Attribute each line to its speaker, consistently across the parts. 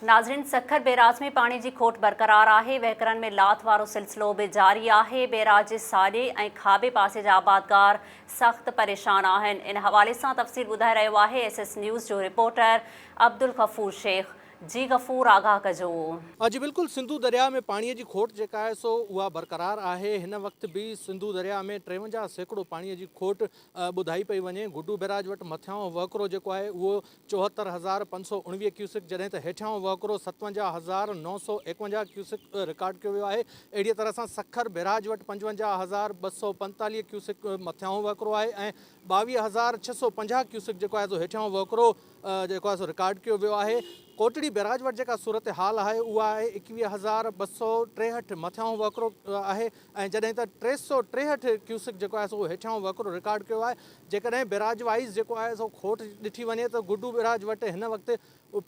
Speaker 1: ناظرين سکر بيراج ۾ پاڻي جي کوٽ برقرار آهي، وهڪرن ۾ لاٿ وارو سلسلو به جاري آهي، بيراج جي ساڄي ۽ کاٻي پاسي جا آبادگار سخت پريشان آهن، ان حوالي سان تفصيل ٻڌائي رهيو آهي ايس ايس نيوز جو رپورٽر عبدالغفور شيخ، جي غفور آگاهه ڪجو. اڄ بلڪل
Speaker 2: سنڌو درياء ۾ پاڻي جي کوٽ جيڪا آهي سو اها برقرار آهي، هن وقت به سنڌو درياء ۾ ٽيونجاهه سيڪڙو پاڻي جي کوٽ ٻڌائي پئي وڃي، گڊو بيراج وٽ مٿيان وهڪرو جيڪو آهي اهو چوهتر هزار پنج سؤ اڻويهه ڪيوسڪ جڏهن ته هيٺيان وهڪرو ستونجاهه هزار نو سؤ ايڪونجاهه ڪيوسڪ رڪارڊ ڪيو ويو آهي اهڙيء طرح سان سکر بئراج وٽ پنجونجاهه هزار ٻه سؤ پنجيتاليهه ڪيوسڪ مٿيانهون وهڪرو آهي ۽ ٻاويهه هزار ڇهه سؤ پنجاهه ڪيوسڪ جيڪو آهي سو هيٺيانهون وهڪرو جيڪو آهي سو رڪارڊ ڪيو ويو آهي ڪوٽڙي بئراج وٽ جيڪا صورتحال آهي اها آهي ايڪويهه هزار ٻه سؤ ٽيهٺ مٿيانهون وهڪرو آهي ۽ جڏهن ته ٽي سؤ ٽيهٺ ڪيوسڪ جيڪو آهي سو هيٺيان وهڪرو رڪارڊ ڪيو آهي جيڪڏهن بيراج وائيز جيڪو آهي سو کوٽ ڏٺي وڃي ته گڊو بيراج وٽ هن وقت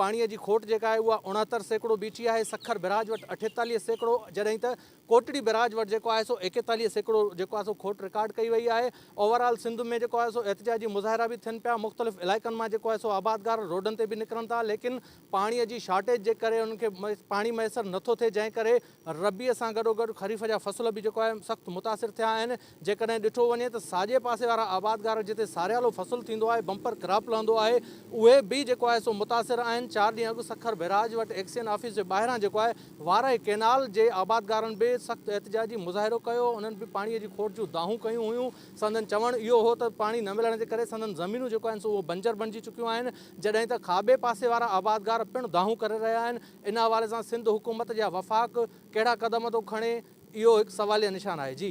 Speaker 2: پاڻي جي کوٽ جيڪا آهي اها اڻهتر سيڪڙو بيٺي آهي سکر بيراج وٽ اٺيتاليهه سيڪڙو جڏهن ته ڪوٽڙي بيراج وٽ جيڪو آهي سو ايڪيتاليهه سيڪڙو جيڪو آهي سو کوٽ رڪارڊ ڪئي وئي آهي اوورآل سنڌ ۾ جيڪو آهي سو احتجاجي مظاهرا به ٿين پيا مختلف علائقن مان جيڪو آهي سو آبادگار روڊن تي به نڪرن ٿا ليڪن پاڻي جي شارٽيج جي ڪري انهن کي پاڻي ميسر نٿو ٿئي جنهن ڪري ربيع سان گڏوگڏ خريف جا فصل به جيڪو آهي سخت متاثر ٿيا آهن، جيڪڏهن ڏٺو وڃي ته ساڄي پاسي وارا آبادگار جتي ساريالو فصل ٿيندو آهي، بمپر ڪراپ لهندو آهي، اهي به جيڪو آهي سو متاثر آهن، چار ڏينهن اڳ سکر بئراج وٽ ايڪسين آفيس جي ٻاهران جيڪو آهي وارهي ڪئنال جي آبادگارن به سخت احتجاجي مظاهرو ڪيو، انهن به پاڻي جي کوٽ جون دانهون ڪيون هيون، سندن چوڻ اهو هو ته پاڻي نه ملڻ جي ڪري سندن زمينون جيڪو آهن سو اهو بنجر بڻجي چڪيون آهن، جڏهن ته کاٻي پاسي وارا آبادگار پڻ دانهون ڪري رهيا آهن. ان حوالي سان سنڌ حڪومت يا وفاق ڪهڙا قدم ٿو کڻي اهو هڪ سواليه نشان آهي جي.